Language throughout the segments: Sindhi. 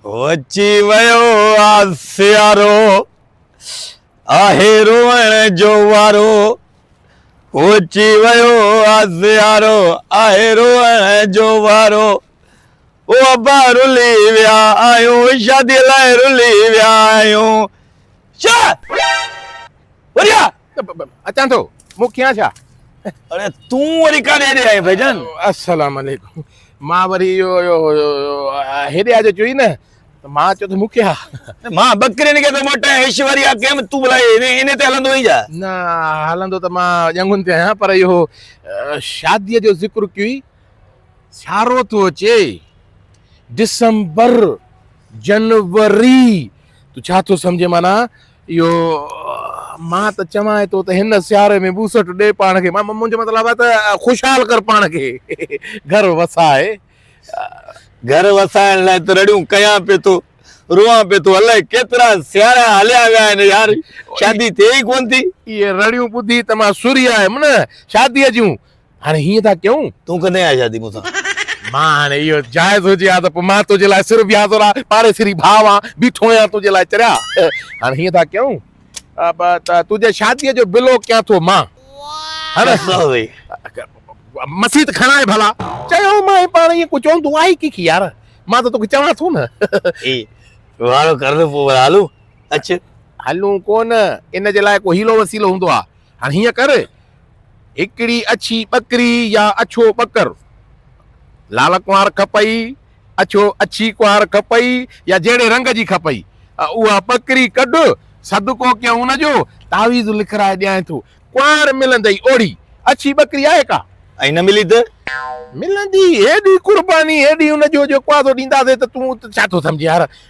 هو اچي ويو آ سيارو، آهي روئڻ جو وارو. هو اچي ويو آ سيارو، آهي روئڻ جو وارو. او ابا رلي ويا آهيون، شاديء لاء رلي ويا آهيون. شا! وريا! اچان ٿو مون ڪيان ڇا اڙي تون وري ڪاڏي ڏي آئين ڀائی جان السلام عليڪم مان وري اهو هيڏي آ جو چوي نه ته مان چو ته مون کي مان بڪرين کي ٿو موٽايان ايشوريا ڪيم تون بلاء ان تي هلندو آهين ڇا نه هلندو ته مان ڄنگهن تي آهيان پر اهو شاديء جو ذڪر ڪيئي سارو ٿو اچي ڊسمبر جنوري تون ڇا ٿو سمجھين معنی اهو مان ته چوان ٿو ته هن سياري ۾ ٻوسٽ ڏي پاڻ کي مان منهنجو مطلب آهي ته خوشحال ڪر پاڻ کي گهر وسائي گهر وسائڻ لاء ته رڙيون ڪيان پئي ٿو روئان پئي ٿو الائي ڪيترا سيارا هليا ويا آهن يار شادي ٿئي ئي ڪونه ٿي. اهي رڙيون ٻڌي ته مان سرهي آيم نه شاديء جون. هاڻي هيئن ٿا ڪيون. تون ڪڏهن آهي شادي مون سان. مان هاڻي اهو جائز هجي ها ته پوء مان تنهنجي لاء سر بيها زورا پاڙيسري ڀاء وان بيٺو هيان تنهنجي لاء چريا. هاڻي هيئن ٿا ڪيون ته تنهنجي شاديء جو بلو ڪيان ٿو مان. مسيت کڻائي ڀلا. چيو مانء پاڻ ايئن ڪو چوندو آهي ڪي يار مان ته توکي چوان ٿو نه. اي واڙو ڪر نه پوء ڀلا هلون. اچ. هلون ڪو نه ان جي لاء ڪو حيلو وسيلو هوندو آهي. هاڻي هيئن ڪر. هڪڙي اڇي ٻڪري يا اڇو ٻڪر، لال ڪنوار کپئي، اڇو اڇي ڪنوار کپئي يا جهڙي رنگ جي کپئي، اها ٻڪري ڪڍ، صدقو ڪيائون ان جو، تعويذ لکرائي ڏيانء ٿو، ڪنوار ملندئي اوڙي، اڇي ٻڪري آهي ڪا؟ ۽ نه ملي ته؟ ملندي هيڏي قرباني، هيڏي ان جو جيڪو آڌو ڏينداسين ته تون ته ڇا ٿو سمجهين يار،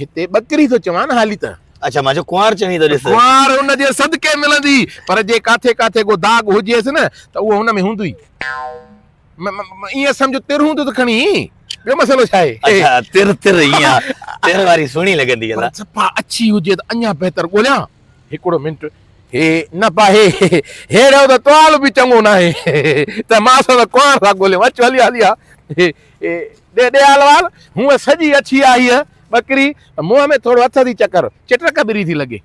هتي ٻڪري ٿو چوان هالي ته. اڇا مان چيو ڪنوار چوين ته ڏس. ڪنوار ان جي صدقي ملندي پر جي ڪاٿي ڪاٿي ڪو داغ هجيس نه ته اهو هن ۾ هوندوئي. ائين سمجهه تر هوندو ته کڻي ٻيو مسئلو ڇا آهي. اڇا تر تر اها تر واري سهڻي لڳندي الا. پر صفا اڇي هجي ته اڃا بهتر ڳوليان. هڪڙو منٽ هي نه پاهي ههڙو ته توال به چڱو ناهي ته ماس ته ڪنوار ٿا ڳوليون اچ هلي هلي ها. اي ڏيالوال! هونء سڄي اڇي آ هيء ٻڪري، منهن ۾ ٿورو هٿ ٿي چڪر، چٽرڪ بري ٿي لڳي.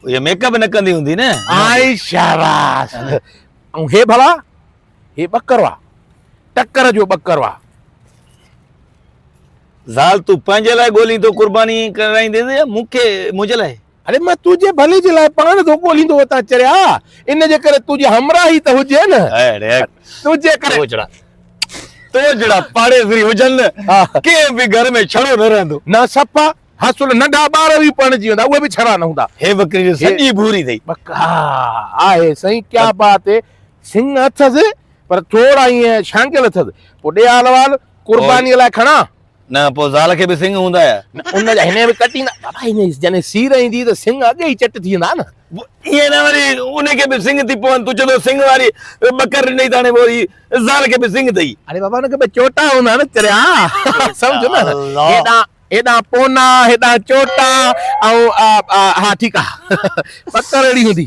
هيء ميڪ اپ نه ڪندي هوندي نه؟ آئي شاباس! ۽ هي ڀلا؟ هي ٻڪرو آ، ٽڪر جو ٻڪرو آ. زال تون پنهنجي لاء ڳولين ٿو قرباني ڪرائيندينء يا مون کي، منهنجي لاء؟ اڙي مان تنهنجي ڀلي جي لاء پاڻ ٿو ڳوليندو اتان چريا ان جي ڪري تنهنجي همراهي ته هجي نه اڙي تنهنجي ڪري تو جهڙا تو جهڙا پاڙيسري هجن ڪنهن به گهر ۾ ڇڙو نه رهندو نه صفا حاصل ننڍا ٻار به پرڻجي ويندا اهي به ڇڙا نه هوندا هي ٻڪري جو سڄي ڀوري اٿئي ها آهي سائين ڪيا بات هي سنگ اٿس پر ٿورا ائين شانگيل اٿس پوء ڏي حال وال قرباني لاء کڻان نه پوء زال کي به سنگ هوندا يا. نه ان جا هن به ڪٽيندا. بابا هن جي جڏهن سير ايندي ته سنگ اڳ ئي چٽ ٿي ويندا نه. ائين نه وري ان کي به سنگ ٿي پون. تون چون ٿو سنگ واري ٻڪر ڏني ته هاڻي پوء هي زال کي به سنگ اٿئي. اڙي بابا ان کي به چوٽا هوندا نه چريا سمجهه نه هيڏانهن هيڏانهن پونا هيڏانهن چوٽا ۽ ها ٺيڪ آ ٻڪر اهڙي هوندي.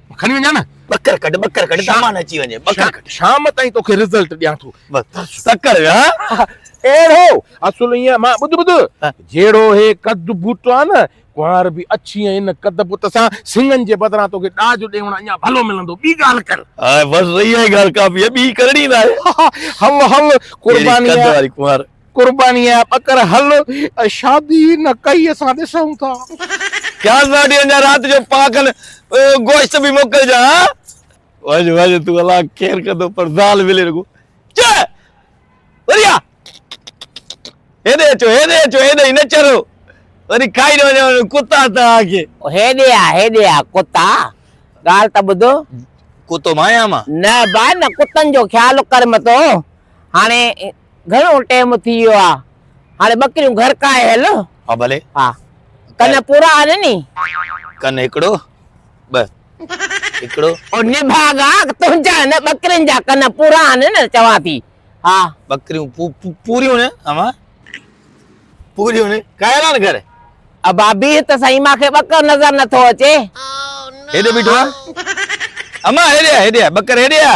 کڻي وڃان نه ٻڪر ڪڍ ٻڪر ڪڍ سامان اچي وڃي ٻڪر ڪڍ شام تائين توکي رزلٽ ڏيان ٿو بس ٽڪر ويا اهڙو اصل ائين مان ٻڌ ٻڌ جهڙو هي قد بوٽو آ نه ڪنوار به اڇي ۽ ان قد بوٽ سان سنگن جي بدران توکي ڏاج ڏيون اڃا ڀلو ملندو ٻي ڳالهه ڪر هاء بس اها ئي ڳالهه ڪافي آ ٻي ڪرڻي ناهي هل هل قرباني قد واري ڪنوار قرباني جا ٻڪر هل شادي نه ڪئي اسان ڏسون ٿا. خيال مان وٺي اڃا رات جو پاکن گوشت به موڪلجان ها. وڃ وڃ تون الله خير ڪندو پر زال ملي رڳو چئه وري آ هيڏي اچو هيڏي اچو هيڏي نه چرو وري کائي نه وڃو ڪتا توهان کي. هيڏي آ هيڏي آ ڪتا ڳالهه ته ٻڌ. ڪتو مان آهيان مان. نه با نه ڪتن جو خيال ڪر متو هاڻي. گهڻو ٽيم ٿي ويو آ هاڻي ٻڪريون گهر ڪاهي هل. ها ڀلي. ها ڪن پورا آهن ني. ڪن هڪڙو ٻه هڪڙو. او نڀاڳا تنهنجا هن ٻڪرين جا ڪن پورا آهن نه چوان ٿي ها. ٻڪريون پوريون نه امان پوريون نه ڪاهي ها نه گهر. ابا بيهه ته سهي مان کي ٻڪر نظر نٿو اچي. هيڏي بيٺو آ امان هيڏي آ هيڏي آ ٻڪر هيڏي آ.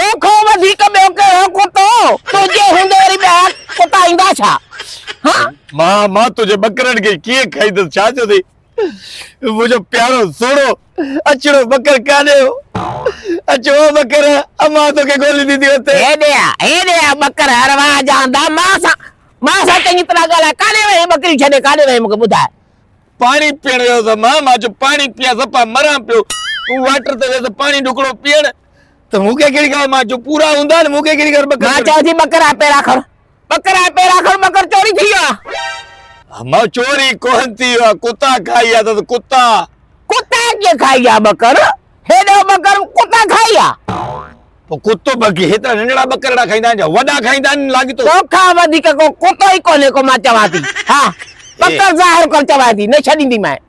تو کان وڌيڪ ٻيو ڪهڙو ڪتو تنهنجي هوندي وري ٻيا ڪتا ايندا ڇا هان. مان مان تنهنجي ٻڪرن کي ڪيئن کائيندس ڇا جو ٿي منهنجو پيارو سهڻو اڇڙو ٻڪر ڪاڏي هو اچ او ٻڪر امان توکي ڳوليندي ٿي اتي. هيڏي آ هيڏي آ ٻڪر ارواح جهاندا مان سان مان سان چڱي طرح ڳالهاء ڪاڏي وئين ٻڪريون ڇڏي ڪاڏي وئين مونکي ٻڌاء. پاڻي پيئڻ ويو هوس مان مان چيو پاڻي پيئان سپا مران پيو هو واٽر تي ويس پاڻي ڍڪڻو پيئڻ ته مون کي ڪهڙي خبر مان جو پورا هوندا آهن مون کي ڪهڙي خبر ٻڪر مان چيو جي ٻڪر آهي پيرا کڻ ٻڪر آهي پيرا کڻ ٻڪر چوري ٿي ويو آهي مان چوري ڪونه ٿي ويو آهي ڪتا کائي ويا اٿس ڪتا ڪتا ڪيئن کائي ويا ٻڪر هيڏو ٻڪر ڪتا کائي ويا پوء ڪتو بگي هيترا ننڍڙا ٻڪرڙا کائيندا آهن ڇا وڏا کائيندا آهن لاڳيتو تو کان وڌيڪ ڪو ڪتو ئي ڪونهي ڪو مان چوان ٿي ها ٻڪر ظاهر ڪر چوان ٿي نه ڇڏينديمانء